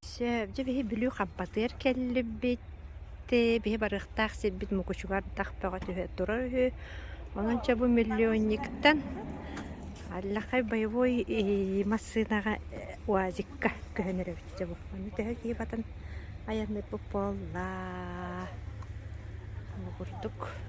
Сөп. Дьэ биһи Бүлүү Хампатыар кэллибиттии, биһи барыахтаах сирбит Мукучуга ардах бөҕө түһэ турар үһү. Онончо бу миллионниктан Аллахай боевой ии массыынаҕа э УАЗикка көһөн эрэбитчэ бу. Ону төһө киһи батан айанныырбыт буоллаа. Бу курдук.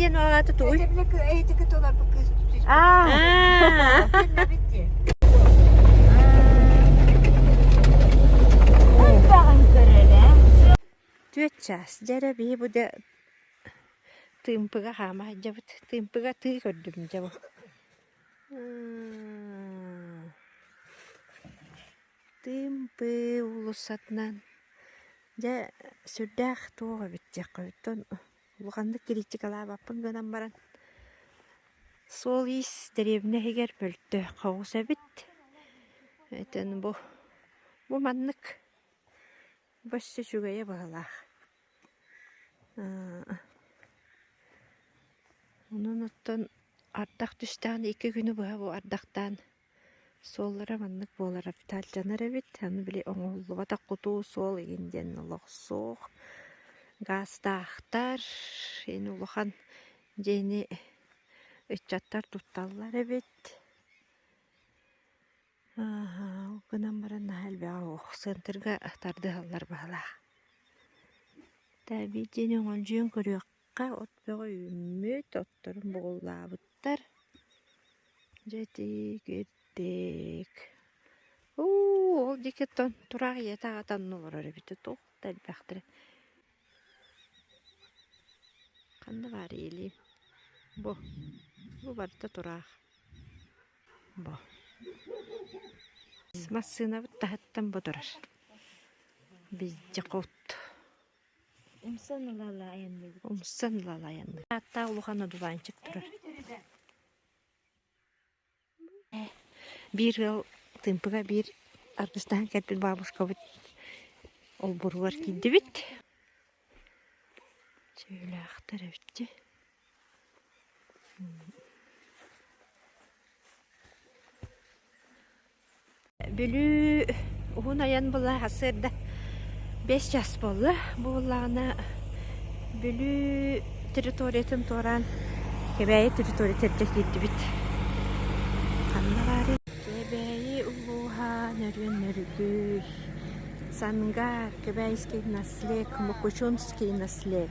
диэн аата тугуй? Түөрт чаас дьэрэбии бу да тыымпыга хаама дьабыт тыымпыга тыы көрдүм дьабы Тыым-пыы уулуссатынан дьэ сүрдээх туох эбит диэххиттэн улаханнык кириитикалаабаппын гынан баран суол-иис дэриэбинэ иһигэр мөлтөөххө оҕус эбит этэн бу бу маннык бу өссө үчүгэйэ быһалаах онон оттон ардах түстэҕинэ икки күнү быһа бу ардахтаан Суоллара маннык буолара фитальдьанар эбит, аны били оҥоһуллубатах кутуу суол иһин диэн олох суох. Гаастаахтар ини улахан дьиэни ыччаттар тутталлар эбит. Ол гынан баран наһаа элбэҕэ уох центрга тардыһаллар баһылаах. Тээбиит дьиэни оҥолдьуйан көрүөх Ха от бөҕө үүммүт, отторун бугуллаабыттар. Дьэ ити кирдик. Уу ол диэки тураах ийэтэ аҕата онно олорор эбитэ туох да элбэхтэрэ. Ханна баар иилиим. Бу. Бу барыта тураах. Бу. Массыынабыт таһыттан бу турар. Бизди кут. Умсан ыла айанныыр. Ааттаах улахан одуванчик турар. Биир ыал тымпыга биир аргыстаһан кэлбит бабушкабыт олбуругар киирдибит. Чээлээхтэр эбитти. Бүлүү уһун айан былаһассыырда бэс чаас буолла. Буоллаҕына Бүлүү территориятын туораан Кэбээйи территориятыгар киирдибит. Ханна баарый? Кэбээйи улууһа Нөрүөн Нөргүй, Сангаар, Кэбээйский наслег, Мукучунский наслег.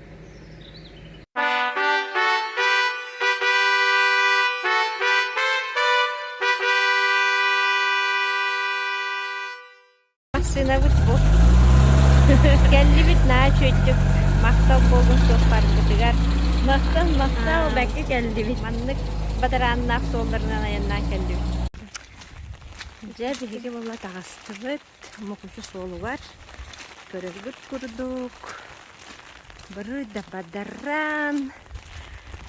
Массыынабыт бу. Кэллибит наа чөйдүк. Махтал буолун суоппарбытыгар. Махтал, махтал, Аа. бэккэ кэллибит. Маннык батарааннаах суолларынан айаннаан кэллибит. Дьэ, биһиги була таҕыстыбыт. Мукучу суолугар көрөргүт курдук бары да бадараан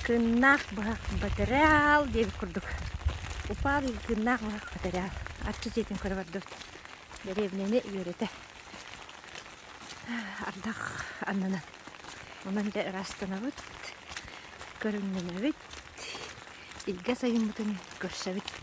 кыннаах быһах батыраал диэбит курдук упаал кыннаах быһах батыраал арчы дьиэтин көрө бардыбыт дэриэбинэни үөрэтэ ардах аннынан онон дэ ыраастанабыт көрүҥнэнэбит илгэ сайыммытын көрсөбүт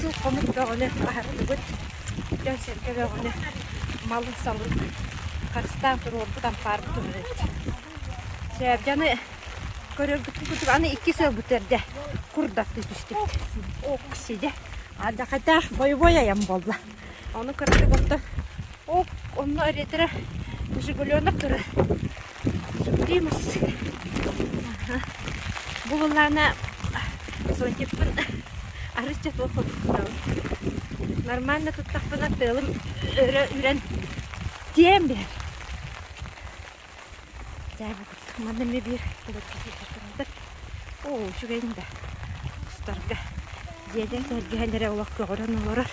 Суут-хомук бөҕөнү аһатсыбыт, дьон-сэргэ бөҕөнү, малын-салын харыстаан туруорбут, ампаарбыт уһуннук. Дьаны көрөргүттэн курдук, аны иккис өлбүтэр дэ курдаттыы түстүбүт. Ок, сидэ, адьахата бойобуой айан буолла. Ону кыратык оттон, ок, онно эриэтирэ Жигуленок турар. Любимец, бу былаана сотникпын арычча туох курдуктаҕын. Нормально туттахпына тыалым өрө үрэн тиэм биһэр. Дьээбэ курдук манна эмиэ биир кулачча сылдьар турбатар. Оо, үчүгэйин да устарга. Дьиэтин сэргэһэн эрэ олох көҕөрөн олорор.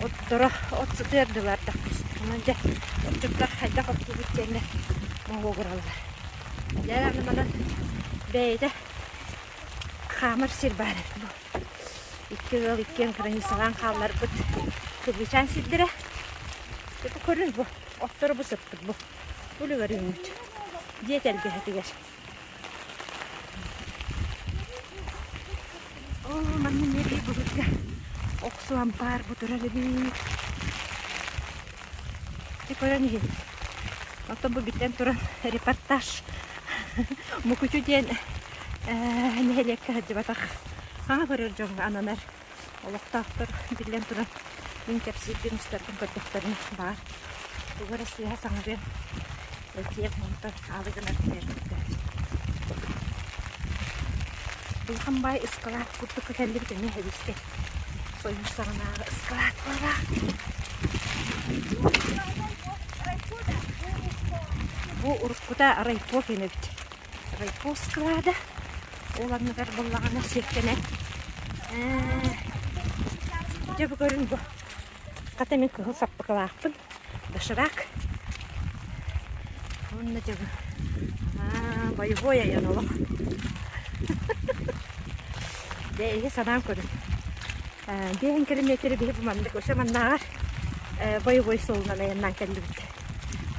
Отторо от сытыардылар да устума дьэ отчуттар хайдах оттуубут кэннэ моһуогураллар. Дьэ аны манан бэйэтэ хаамар сир баар эбит бу. Икки ыал иккиэн кыраныыссалаан хаалларбыт кыргычаан сирдэрэ. Көрүн бу оттору бу сыппыт бу. Үлүгэр үүммүт. Дьиэ тэлгэһэтигэр. Оо, манна мерии былырга охсуон баар бутурар эбит. Ты көрөн иһин. Оттон бу битэн туран репортаж. Мукучу диэн нэһилиэккэ сылдьыбатах. Хаҥа көрөр дьоҥҥо ананар олохтоохтор биллэн туран мин кэпсиирбин устаргын көрдөхтөрүнэ баар тугу эрэ сыыһа саҥарыа этиэм онтон аалы гынар бэрбиттэ Былхан баай ыскалаат курдукка кэллибит эмиэ эбискэ сойуус саҕанааҕы ыскалаат буолара бу уруккута райпо кэнэбит райпос склада. Ол анныгар буллаҕына сиэктэнэн. Дьэ бу көрүн бу. Хата мин кыһыл саппыкылаахпын. Доширак. Онно дьыбы. Боевой айан олох. Дэ эһи санаам көрүн. Биэһин километры биһи бу маннык өсө маннааҕар боевой суолунан айаннаан кэллибит.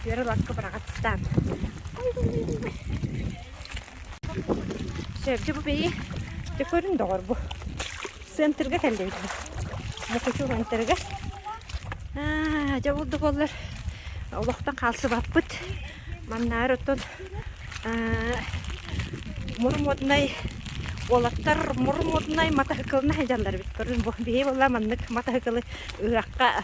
Түөрэ ласка быраҕат ыстаан. Сөбдө бу бэйи. Дэ көрүн доҕор бу. Центрга кэллибит. Мукучу центрга. Аа, дьэ булду боллар. Олохтон хаалсыбаппыт. Маннаар оттон мурмоднай уолаттар мурмоднай матаһыкылына дьаллар бит көрүн бу бии болла маннык матаһыкылы ыһахха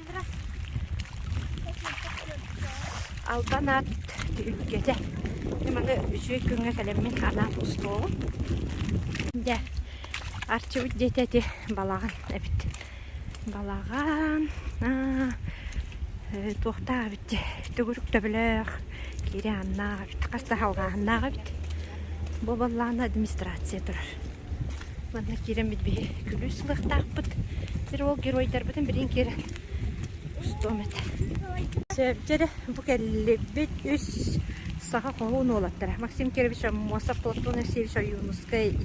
Албан аат үргэтэ. Маны үчүгэй күҥҥэ кэлэммин анаан устуоҕум. Дьэ, арчыбыт дьиэтэ ити балаҕан эбит. Балаҕан туохтаах эбит төгүрүк төбөлөөх кири аннаах эбит хас да халҕааннаах эбит бу балаҕан администрация турар Манна киирэн биһи күлүүс ылыахтаахпыт. Бир ол геройдарбытын билин кир устуом этэ. Сөбдері бу кэллибит үс саха хоһуун уолаттара. Максим Кирович Аммосов, Платон Алексеевич Ойуунускай,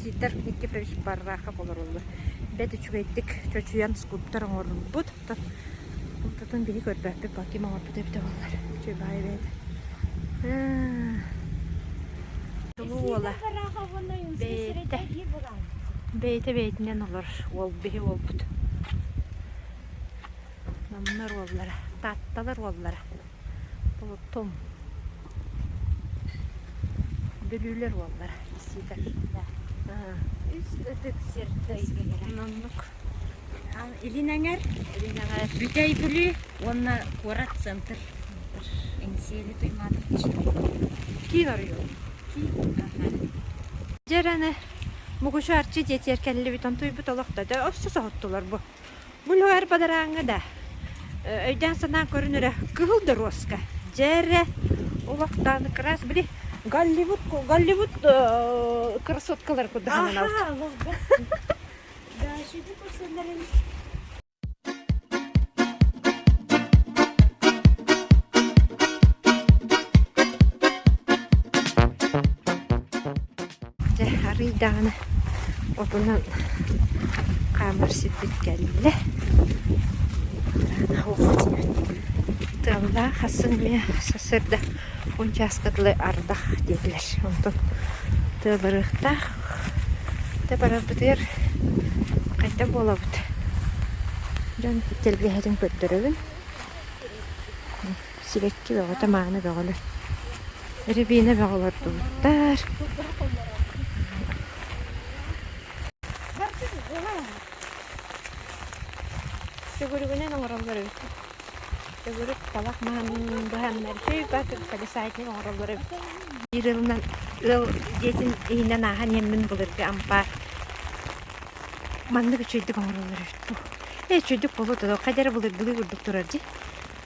Сидор Никифорович Барахов олороллор. Бэт үчүгэйдик чочуйан скульптор оҥорбут. Оттон ортотун били көрбөппүт, ким оҥорбута эбитэ буоллар. Чуйбаай эбээтэ. Туну уола. Бэйэтэ бэйэтинэн олор. Уол биһи уолбут. Номнор уоллара. Таатталар уоллара. Болотум. Бүлүүлэр уоллара. Сидор. Үс ытык сир дойдулара. Ноннук. Илин эҥэр, илин эҥэр Бүтэй Бүлүү уонна куорат центр Эҥсиэли Туймаатович киин оройуон киин дьэ эрэнэ Мугучу Арчы дьиэтигэр кэллибит онтуйбут олох да дьэ охсо соһуттулар бу бу Луэр бадарааҥҥа да өйдөөн-санаан көрүн эрэ кыһыл доруоска дьэ эрэ олохтоон кыраас били Голливуд Голливуд красоткалары курдук сананалта Дашиты көрсөллөрүн Дьэ, арыйдаҕына отунан хаамар сирбит кэллэ. Тыаллаах хассын эмиэ сарсыарда унчааска дылы ардах диэтилэр. Онтон тыалырыахтаах Дьэ барарбытыгар хайдах буолабыт? Дьон тэлгэһэтин көрдөрөбүн. Сибэкки бөҕөтө, мааны бөҕөлөр. Рябина бөҕө олордубуттар. Сүгүрүгүнэн оҥороллор эбит. Төгүрүк талах маһын быһаннар чөйбө колесатник оҥороллоро биир ылынан ыал дьиэтин иһинэн ааһан иэммин былыргы ампаар маннык үчүгэйдик оҥороллоро үһү дуу. Ээ үчүгэйдик болот оно хайдары былыргылыы курдук турар дии.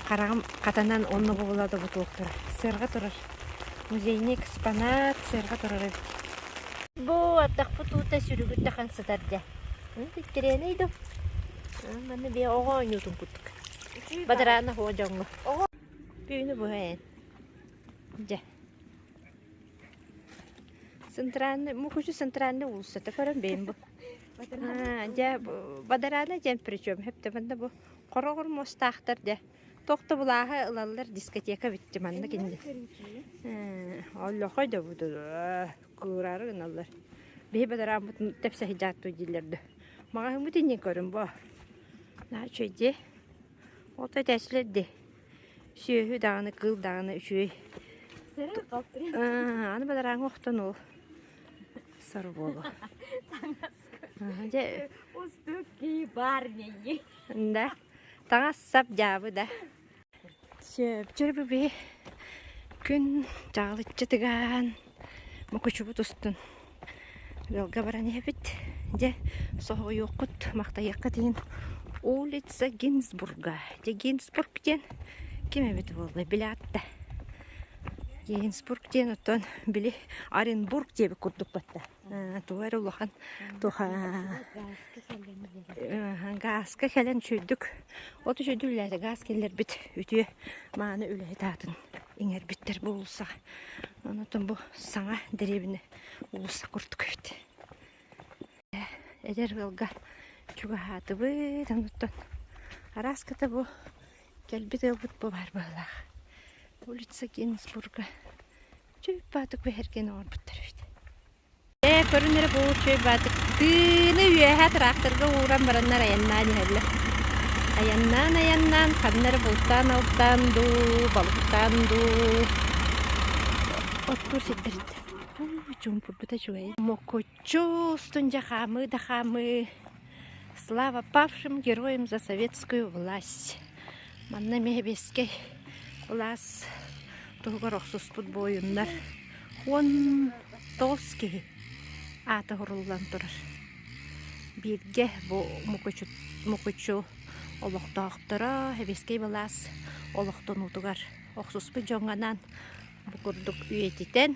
Хараҕым хатанан онно бобула да ботуок турар. Сыарҕа турар. Музейный экспонат сыарҕа турар эбит. Бу ардахпыт уута сүрүгүттэ хан сытар дьэ. Аны тиккирээнэй дуу? Манна бие оҕо оонньуутун кут. Бадараана һуо дьоҥҥо түүнү быһа эн дьэ центральный мухучу центральный уулуссата көрөн бэйим бу дьэ бадараана дьэн причем хэптэмэнна бу хороҕор муостаахтар дьэ тохто былааһы ылаллар дискотека битти манна кинни оллохой да бут кыыраары гыналлар биһи бадарааммыт тэпсэһи дьааттуу дииллэр да маҕаһыммыт иннин көрүн бо Нааччай дьэ, ото этээсилэр дэ сүөһү даҕаны, кыыл даҕаны үчүгэй. Аны бадарааҥҥа охтон ол сору буолуо. Дьэ Устук ки барняйы. Да, таҥас сап дьаабы да. Сөөбү күн чаҕылыччы тыгаан мукучубут устун ыалга баран иһэбит. Дьэ соһуйуоххут, махтайыаххыт иһин улица Гинзбурга. Дьэ Гинзбург диэн ким эбит буоллай билээт да. Гинзбург диэн оттон били Оренбург диэбит курдук батта. тугу эрэ улахан гааска кэлэн сүрдүк оту сүдүллээтэ гаас киллэрбит үтүө мааны үлэһит аатын иҥэрбиттэр бу уулусса онтон бу саҥа дэриэбинэ уулусса курдук эбит эдэр ыалга чугаһаатыбыт онуттан арааскыта бу кэлбит ыалбыт бу баар быһалаах улица гиннесбурга Чөй баатык бэһэрген оҥорбуттар эбит. Ээ, көрүн эрэ бу чөй баатык тыыны үөһэ тыраахтарга ууран бараннар айаннаан иһэллэр. Айаннаан, айаннаан, ханна эрэ бултаан-алтаан дуу, балыгытаан дуу оттуур сирдэриттэн. Уу, чуумпурбута үчүгэй. Мокуччу устун дьэ хаамыы да хаамыы Слава павшим героям за советскую власть! Манна Мэһэбиэскэй кылаас туһугар охсуспут буойуннар уон тоҕус киһи аата уһуруллан турар. Бииргэ бу Мукучу, Мукучу олохтоохторо Сэбиэскэй былаас олохтонуутугар охсуспут дьоҥҥонаан бу курдук үйэтитэн,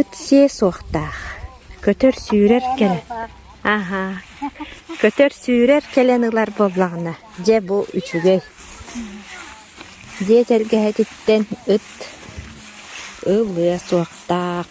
Ыт сиэ суохтаах, көтөр-сүүрэр кэлэн «Аһаа, көтөр-сүүрэр кэлэн ылар буоллаҕына, дьэ бу үчүгэй» диэ тэлгэһэтиттэн ыт ылыа суохтаах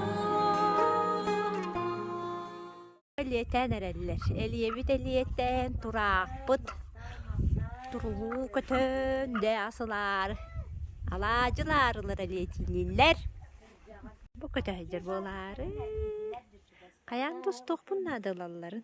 Элиэтээн эрэллэр. Элиэбит элиэтээн, тураахпыт туруу көтөн, дэ асылаар алаадьылаар ылар элиэтиниллэр. Бу көтөһдэр буолаары. Хайаан тустуохпун наада ылалларын.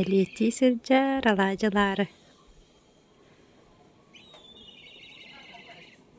Элиэтии сылдьар алаадьылаары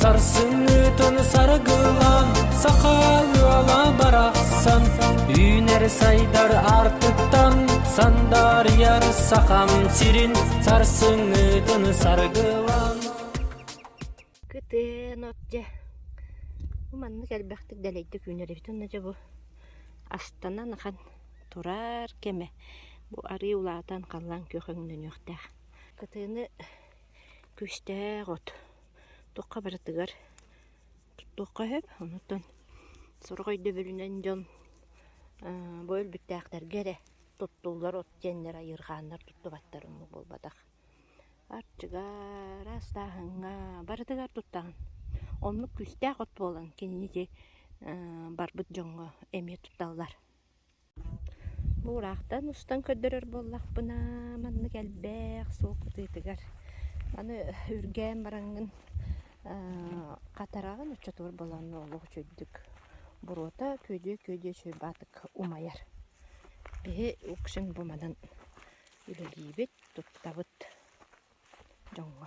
Сарсыытын саргылан сахал ыала барахсан Үүнэр сайдар артыттан сандаарыйар сахам сирин Сарсыҥҥытын саргылан Кытын от дьэ Бу маннык элбэхтик дэлэйдик үүнэрибит уонна дьэ бу астанан ахан турар кэмэ Бу арыы улаатан халлаан күөх өҥнөнүөхтээх Кытыыны күүстээх от Туохха барытыгар туттуохха сөп, онутан сорох өйдөбүлүнэн дьон бу өлбүттээхтэргэ эрэ туттуллар от диэннэр айыырхааннар туттубаттар оннук буолбатах. Арчыгара, астааһыҥҥа барытыгар туттаҕын. Оннук күүстээх от буолан кинини ити барбыт дьоҥҥо эмиэ тутталлар. Бу ыраахтан устан көрдөрөр буоллахпына, маннык элбэх суол кытыытыгар аны үргээн бараҥҥын хатараҕын оччотугар былаан олох үчүгэйдик буруота күөдьүө-күөдьүө чуйбаатык умайар. Биһи в общем бу манан үлэлиибит, туттабыт дьоҥҥо.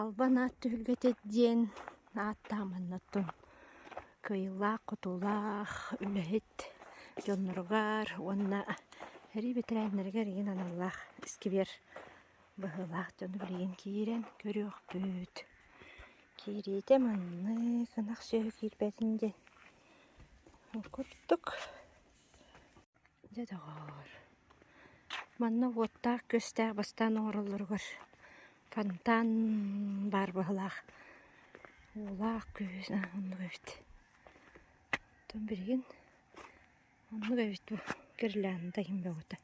Албан аат түһүлгэтэ диэн ааттаах маннаттан кыайыылаах-хотуулаах үлэһит дьонноругар уонна эрий бэтэрээннэригэр ийин аналлаах сквер быһыылаах дьону билигин киирэн көрүөхпүт. Киириитэ маннык ынах сүөһү киирбэтин диэн курдук Дьэ доҕоор, манна уоттаах-күөстээх бастаан оҥороллоругар фонтан баар быһалаах уулаах күөс оннук эбит. Оттон билигин оннук эбит бу гирлянда иһин бөҕөтө.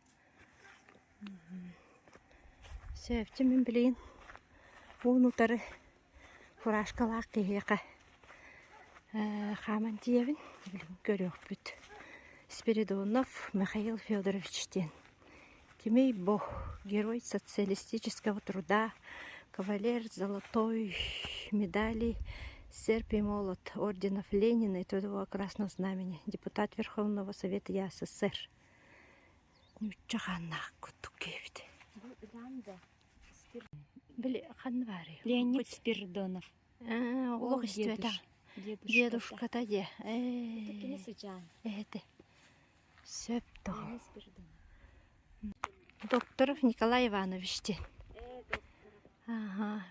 Сээвчи мин билигин уон утары фуражкалаах киһиэхэ хааман тиийэбин көрүөхпүт. Спиридонов Михаил Федорович диэн. Тимей Бо, герой социалистического труда, кавалер золотой медали, серп и молот орденов Ленина и Трудового Красного Знамени, депутат Верховного Совета СССР. нуучча хааннаах курдук кээбит били ханна баарый ленник спирдонов олох истибэтэ дедушката дии эһэтэ сөп тоҕо докторов николай иванович диэн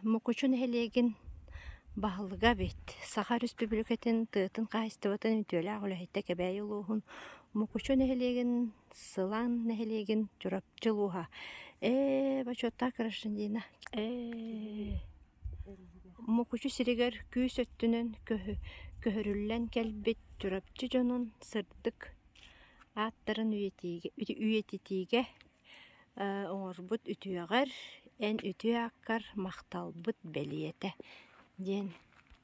Мукучу нэһилиэгин баһылыга эбит. Саха Өрөспүүбүлүкэтин тыатын хаһаайыстыбатын үтүөлээх үлэһиттэ Кэбээйи улууһун Мукучу нэһилиэгин Сылаан нэһилиэгин Чурапчы улууһа ээ бочуоттаах гражданина ээ Мукучу сиригэр күүс өттүнэн көһөрүллэн кэлбит Чурапчы дьонун сырдык ааттарын үйэтитиигэ Оҥорбут үтүөҕэр эн үтүө аккар махталбыт бэлиэтэ диэн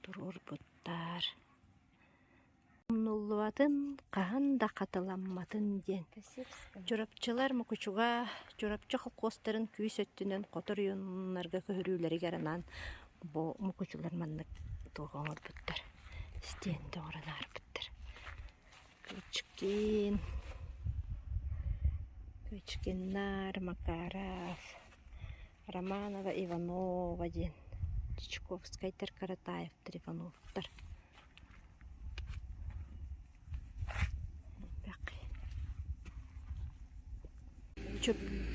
туруорбуттаар. Умнуллубатын хаһан да хатыламматын диэн Чурапчылар Мукучуга Чурапчы холкуостарын күүс өттүнэн хотор ойууннарга көһөрүүлэригэр анаан бу мукучулар маннык туруга оҥорбуттар стенды оҥорон ааспыттар Кычкин, Кычкин наар, Макаров, Романова Иванова диэн Чичковскайтар, Каратаев, Трифоновтар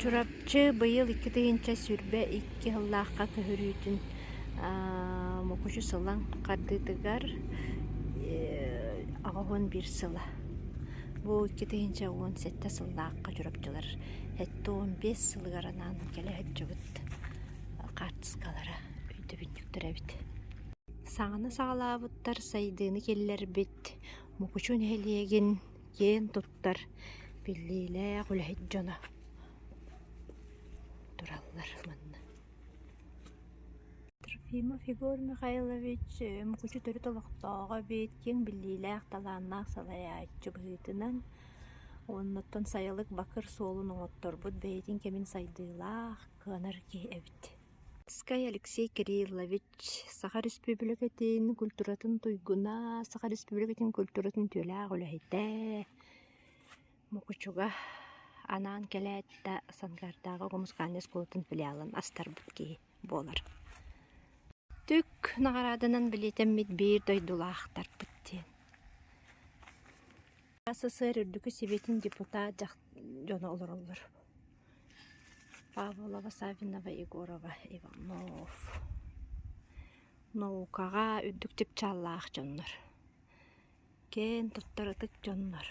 Чурапчы быйыл икки тыһыынча сүүрбэ икки сыллаахха көһөрүүтүн Мукучу Сылаҥ хардыытыгар аҕыс уон биир сыла. Бу икки тыһыынча уон сэттэ сыллаахха чурапчылар сэттэ уон биэс сылыгар анаан кэлэ сылдьыбыт хаартыскалара өйдөбүнньүктэрэ эбит. Саҥаны саҕалаабыттар сайдыыны киллэрбит Мукучу нэһилиэгин киэн туттар биллиилээх үлэһит дьоно тураллар манна Трофимов Егор Михайлович Мукучу төрүт олохтооҕо эбээт киэҥ биллиилээх талааннаах салайааччы быһыытынан уонна оттон сайылык бакыр суолун оҥотторбут бэйэтин кэмин сайдыылаах кыанар киһи эбит Ткай Алексей Кириллович Саха Өрөспүүбүлүкэтин культуратын туйгуна, Саха Өрөспүүбүлүкэтин культуратын үтүөлээх үлэһитэ, Мукучуга анаан кэлээт да Санкардааҕы оҕо музыкальнай оскуолатын филиалын астарбыт киһи буолар. Түк наҕарааданан билиэтэммит биир дойдулаахтарбыт диэн. СССР үрдүкү Сэбиэтин депутат дьоно олороллор Павлова, Савинова, Егорова, Иванов наукаҕа үрдүк чыпчааллаах дьоннор киэн туттар ытык дьоннор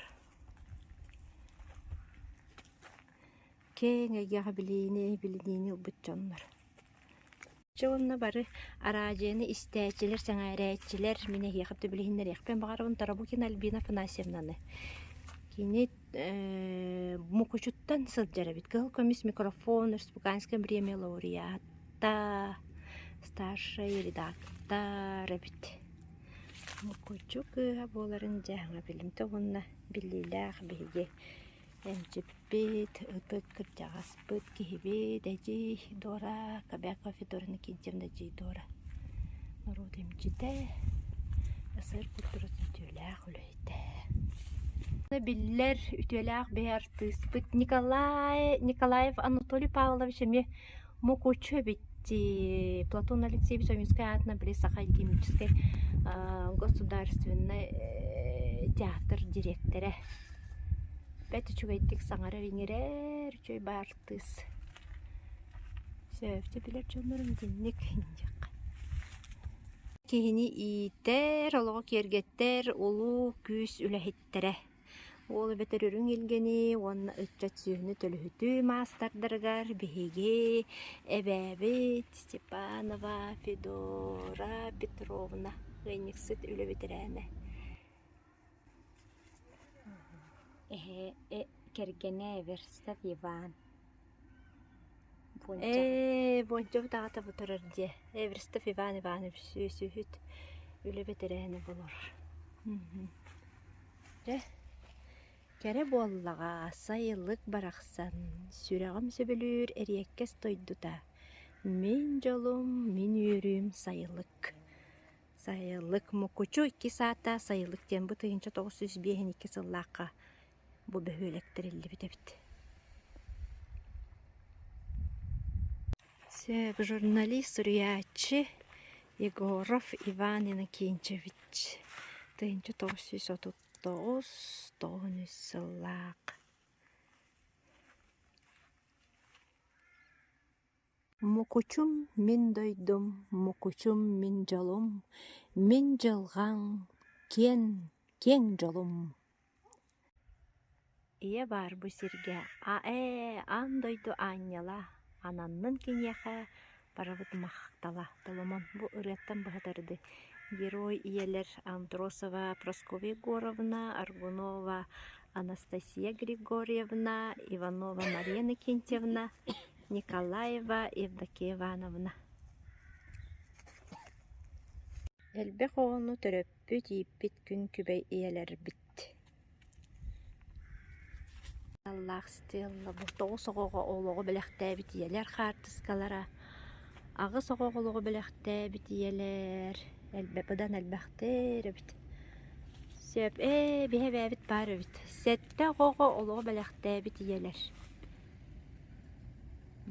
киэҥ эйгэҕэ билиини билиниини ылбыт дьоннор Чэ уонна бары араадьыйаны истээччилэр, сэҥээрээччилэр, мин эһиэхэ төбүл иһиннэриэхпин баҕарабын Тарабукина Альбина Афанасьевнаны. Кини э, Мукучуттан сылдьар эбит. Кыһыл көмүс микрофон, Республиканское бремя лауреата, старшай редактор эбит. Мукучу кыыһа буоларын дьэ аҕа билимтэ уонна биллиилээх биһиги Эмчиппит, ытык кырдьаҕаспыт, киһибит, эдьиий Дора, Кобяков Федоровна Киндиэм да эдьиий Дора норуот эмчитэ, СССР культуратын үтүөлээх үлэһитэ. Биллэр үтүөлээх бэйэ артыыспыт Николай Николаев Анатолий Павлович эмиэ Мукучу эбит дии Платон Алексеевич Ойуунскай аатынан били Саха алхимическай государственнай театр дириэктэрэ. Бэрт үчүгэйдик саҥарар-иҥэрэр үчүгэй баартыыс. Сөпкө билэр дьоннорум итинник индиэххэ. Киһини иитэр, олоҕу киэргэттэр улуу күүс үлэһит. Тэттэрэ. Уол эбэтэр үрүҥ илгэни уонна ыччат сүөһүнү төлөһүтүү маастардарыгар биһиги эбээбит Степанова Федора Петровна ыанньыксыт үлэ бэтэрээнэ. Эһэ, э, кэргэнэ Верстов Иван. Ээ, Бончоҕут аҕата бутарар дьиэ. Эверстов Иван Иванович үөсүһүт үлэ бэтэрээнэ болор. Дьэ, кэрэ буоллаҕа, сайылык барахсан, сүрэҕим сөбүлүүр эриэккэс дойдута. Мин дьолум, мин үөрүүм сайылык. Сайылык Мукучу иккис аата сайылык диэн бу тыһыынча тоҕус сүүс биэһин икки сыллаахха Бу бөһүөлэк тэриллибит эбит журналист суруйааччы Егоров Иван Иннокентьевич тыһыынча тоҕус сүүс отут тоҕус тоҕун үс сыллаах Мукучум мин дойдум, мукучум мин дьолум, мин дьылҕаҥ, киэҥ, киэҥ дьолум Ийэ баар бу сиргэ аа-ээ аан дойду аанньала, ананнын киниэхэ барыбыт махтала Толомон бу ырыаттан быһатар дыы Герой ийэлэр Андросова, Прасковья Егоровна, Аргунова, Анастасия Григорьевна, Иванова Мария Иннокентьевна Николаева Евдокия Ивановна Элбэх оҕону төрөппүт, ииппит күн күбэй ийэлэрбит Аналлаах стеллабы тоҕус оҕоҕо олоҕу бэлэхтээбит ийэлэр хаартыскалара аҕыс оҕоҕо олоҕу бэлэхтээбит ийэлэр элбэх быдан элбэхтэр эбит Сөп ээ биһи эбээбит баар эбит Сэттэ оҕоҕо олоҕу бэлэхтээбит ийэлэр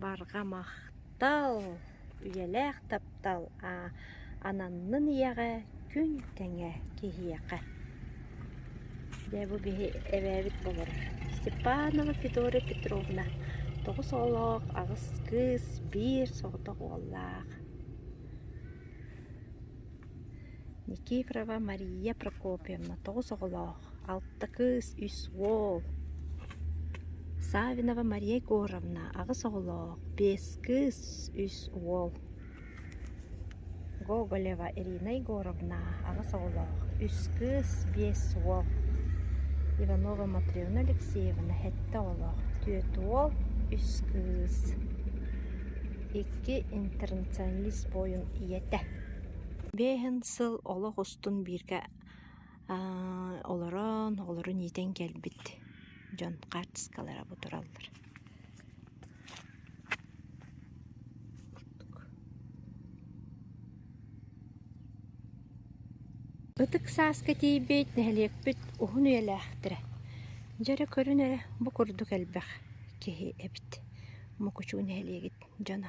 Барҕа махтал, үйэлээх таптал ананнын ийэҕэ, күн тэҥэ киһиэхэ. Дьэ бу биһи эбээбит болор Степанова Федория Петровна тоҕус оҕолоох аҕыс кыыс, биир соҕотох уоллаах. Никифорова Мария Прокопьевна тоҕус оҕолоох, алта кыыс, үс уол Саввинова Мария Егоровна аҕыс оҕолоох, биэс кыыс, үс уол Гоголева Ирина Егоровна аҕыс оҕолоох, үс кыыс, биэс уол Иванова Матвеевна Алексеевна сэттэ оҕолоох, түөрт уол, үс кыыс Икки интернационалист буойун ийэтэ Биэһин сыл олох устун бииргэ олорон, олорон иитэн кэлбит дьон хаартыскалара бу тураллар. Ытык сааска тиийбит нэһилиэкпит уһун үйэлээхтэрэ. Дьэ эрэ көрүн эрэ бу курдук элбэх киһи эбит. Мукучу нэһилиэгит дьоно.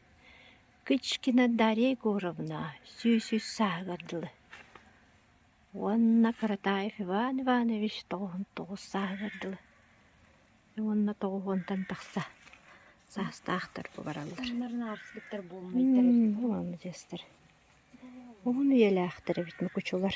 Кычкина Дарья Егоровна сүүс үс сааһыгар дылы уонна Каратаев Иван Иванович тоҕуһун тоҕус сааһыгар дылы уонна тоҕуһуонтан тахса саастаахтар бу бараллар. Маладьыастар. Уһун үйэлээхтэр эбит Мукучулар.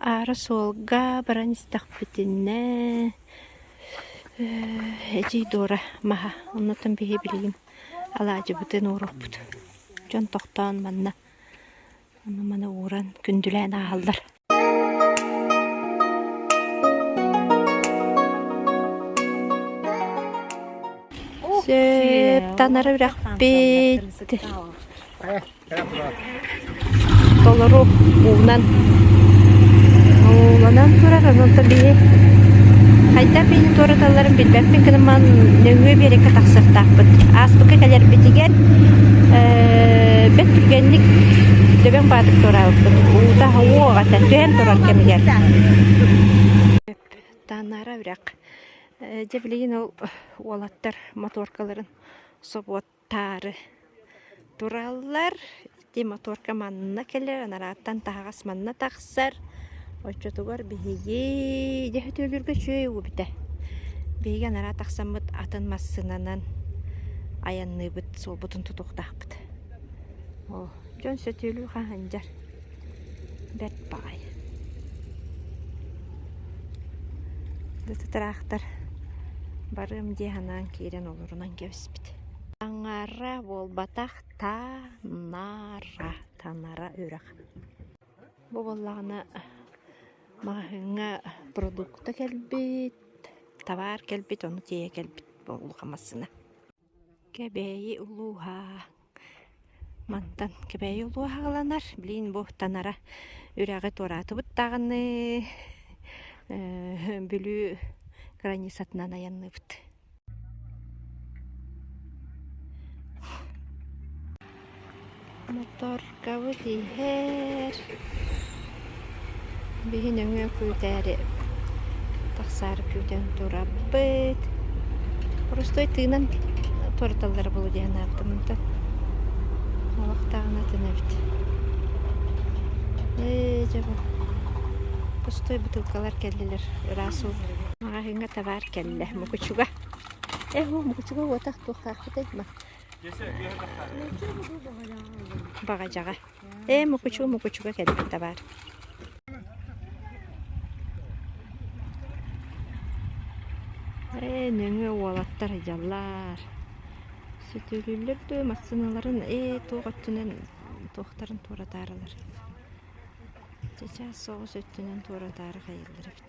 Аара суолга баран истэхпитинэ эдьиий Дора маһа, оннуттан биһи билигин алаадьыбытын ууруохпут. Дьон тохтоон манна маны ууран күндүлээн ааһаллар. Сөп, танара үрэхпит. Толору уунан ууланан турар, онтон биһи хайдах биһи туораталларын билбэппин, кынаман нөҥүө биэрэккэ тахсыахтаахпыт. Ааспыкка кэлэрбитигэр ээ бэрт түргэнник Дөбөҥ Баатыр туораабыппыт. Уута уох этэ түһэн турар кэмигэр. Тааннаара үрэх. Дьэ билигин ол уолаттар моторкаларын собуот таары тураллар. Ити мотуорка манна кэлэр, анарааттан таһаҕас манна тахсар. Оччотугар биһиги дьэ Сөтүөлүүргэ үчүгэй угубута. Биһиги анараа тахсаммыт атын массыынанан айанныыбыт, суолбутун тутуохтаахпыт. Оо, дьон Сөтүөлүү хаһандьар. Бэрт баҕайы. Ытыраахтар барыам дии санаан киирэн олорунан кэбиспит. Аҥаара буолбатах таа-наа-ра танара үрэх. Бу буоллаҕына маҕаһыыҥҥа продукта кэлбит, табаар кэлбит, ону тиэйэ кэлбит буолуоҕа массыына. Кэбээйи улууһа мантан Кэбээйи улууһа ыланар. Билигин бу танара үрэҕи туораатыбыттааҕыныы Бүлүү границатынан айанныыбыт. Моторкабыт иһэр. Биһи нөҥүө күүтээри тахсаары күүтэн турабыт. Оростой тыынан туораталлара буолуо дии санаабытым. Онтон олохтооҕуна тэнэбит. Ээ, дьабы. Пустой бытыылкалар кэллилэр. Ыраас уу. Маҕаһыыҥҥа табаар кэллэ мукучуга э о мукучуга уотах туохтаахпытай ма баҕадьаҕа ээ мукучу мукучуга кэлбит табаар ээ нөҥүө уолаттар дьаллаар сүтүрүллэр дуо массыыналарын ээ туох өттүнэн туохтарын туоратаарылар чычаас соҕус өттүнэн туоратаары хайыллар эбит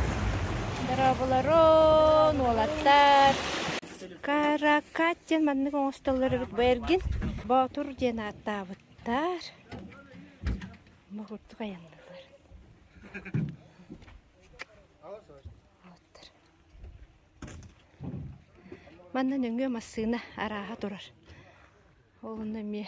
Дорооболорун, уолаттар! Каракат диэн маннык оҥостоллор эбит. Бу эргин Боотур диэн ааттаабыттар. Ама курдук айанныылар. Ооттар. Манна нөҥүө массыына арааһа турар. Ол онно эмиэ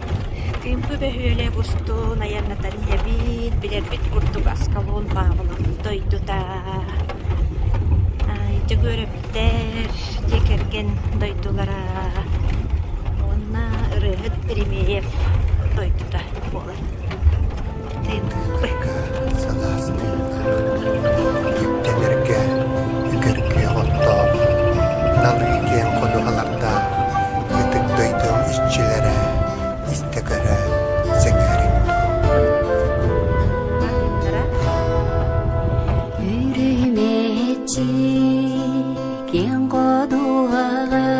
Күҥкү бөһүөлэ бустун айаннатар ийэбиин билэрбит курдук Аскалон Павлов дойдута Дьөгүөрөптөр дьиэ кэргэн дойдулара уонна ырыаһыт Еремеев дойдута буолар Тэнэргэ, үгэргэ оттоох, налы киэҥ ходуһалардаах ытык дойду иччилэрэ истэ көрө сэҥээрин. Үрүмэчи киэҥ ходуһалар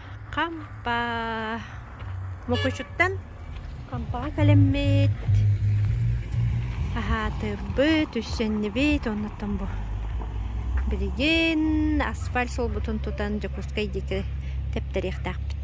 Хампа мукучуттан хампаҕа кэлиммит, аһаатырбыт, үссэннибит, оннуттан бу билигин асфальт суолбутун тутан Дьокуускай диэки тэптэриэхтээхпит.